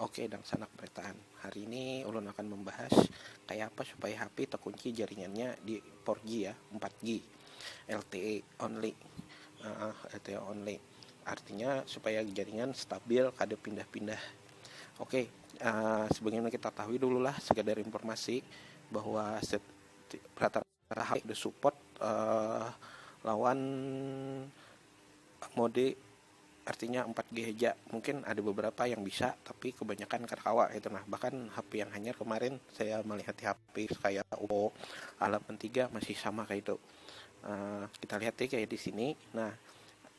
Oke dangsanak beretaan, hari ini ulun akan membahas kaya apa supaya hapi tekunci jaringannya di four G ya, empat G, LTE only, uh, LTE only, artinya supaya jaringan stabil kada pindah-pindah. Oke, uh, sebagaimana kita tahu dulu lah sekadar informasi bahwa rata Rahat di support uh, lawan mode artinya 4G aja mungkin ada beberapa yang bisa tapi kebanyakan karkawa itu nah bahkan HP yang hanya kemarin saya melihat di HP kayak Oppo A83 masih sama kayak itu uh, kita lihat ya kayak di sini nah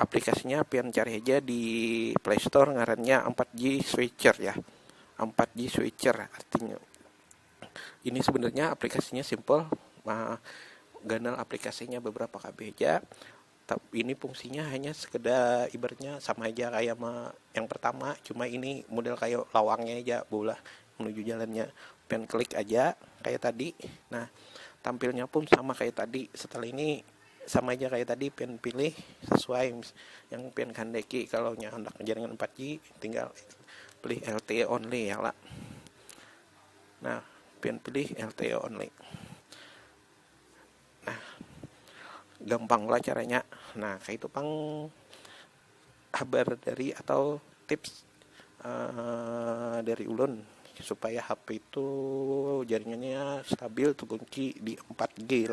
Aplikasinya pian cari haja di play store ngarannya ampat G Switcher ya. Ampat G Switcher artinya. Ini sebenarnya aplikasinya simple. Nah, ganal aplikasinya beberapa KB haja. Tapi ini fungsinya hanya sekedar ibaratnya sama aja kayak ma yang pertama, cuma ini model kayak lawangnya aja bola menuju jalannya. Pian klik aja kayak tadi. Nah, tampilnya pun sama kayak tadi. Setelah ini Sama ja kaya tadi pian pilih sesuai yang pian kehendaki kalau nya handak jaringan empat G tinggal pilih LTE only ya lah nah pian pilih LTE only nah gampang lah caranya nah kayak itu pang kabar dari atau tips uh, dari ulun supaya HP itu jaringannya stabil terkunci di 4G